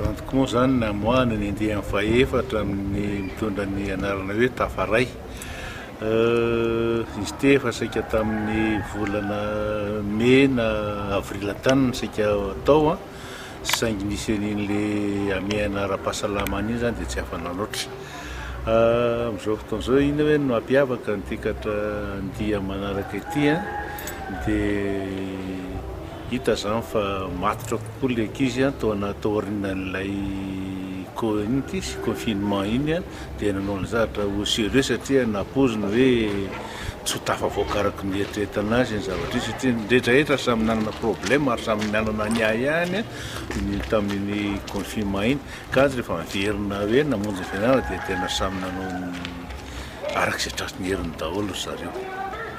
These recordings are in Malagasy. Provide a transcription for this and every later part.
Rendre compte izany namoahana ny andiany fahefatra amin'ny mitondra ny anarana hoe Tafaray. Izy ity efa saika tamin'ny volana mey na avril tany no saika atao saingy nisy an'in'ilay hamehana ara-pahasalama an'iny izany dia tsy afa-nanoatra. Amin'izao fotoana izao inona ve no mampiavaka an'ity katra andia manaraka ity dia Hita izany fa matotra kokoa ilay ankizy an, tao anaty taorinan'ilay co inona ity sy confinement iny an, dia nanao ilay zavatra ho sérieux satria nampoiziny hoe tsy ho tafavoaka araka ny nieritreretana azy iny zavatra iny satria ny rehetrarehetra samy nanana problème ary samy nanana ny ahiahiny ny tamin'iny confinement iny ka rehefa niverina hoe namonjy ny fianarana dia tena samy nanao ny araka izay tratrin'ny heriny daholo ry zareo.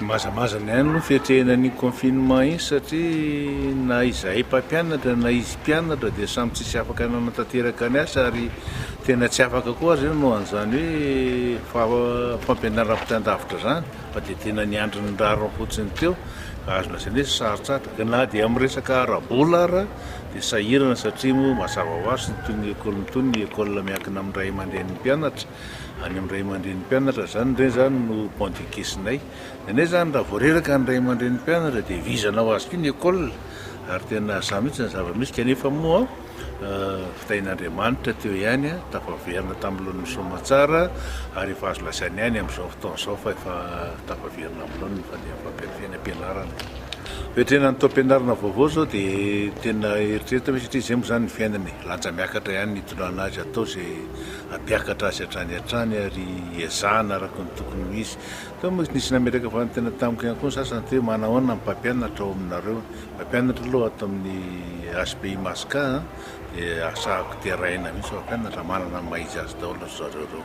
Mazamazana ihany aloha ny fiatrehina an'iny confinement iny satria na izahay mpampianatra na izy mpianatra dia samy tsisy afaka nanatanteraka ny asa ary tena tsy afaka koa aza io noho an'izany hoe fampianarana ampitan-davitra izany fa dia tena niandry ny rariny fotsiny teo ka azo lazaina hoe sarotra atra na dia amin'ny resaka ara-bola ara dia sahirana satria moa mazava ho azy tsy toy ny école ny toy ny école miankina amin'ny ray aman-drenin'ny mpianatra Any amin'ny ray aman-drenin'ny mpianatra izany re izany no point de caissenay. Nenay izany raha vao reraka ny ray aman-drenin'ny mpianatra dia vizana ho azy ity ny école ary tena sahy mihitsy ny zava-misy kanefa moa fitahian'Andriamanitra teo ihany tafaverina tamin'ny laoniny soamatsara ary efa azo lazaina ihany amin'izao fotoana izao fa efa tafaverina amin'ny laoniny ny fandehan'ny fampianarana. Fetrena ny taom-pianarana vaovao izao dia tena eritreretana hoe satria izay moa izany ny fiainana e, lanja miakatra ihany ny hitondrana azy hatao izay. hampiakatra azy hatrany hatrany ary ezahana araka ny tokony ho izy. Teo mantsy nisy nametraka fanontaniana tamiko ihany koa ny sasany hoe manahoana ny mpampianatra ao aminareo? Mpampianatra aloha ato amin'ny HPI Masca dia asahako terahina mihitsy fa mpampianatra manana ny maha izy azy daholo ry zareo ireo.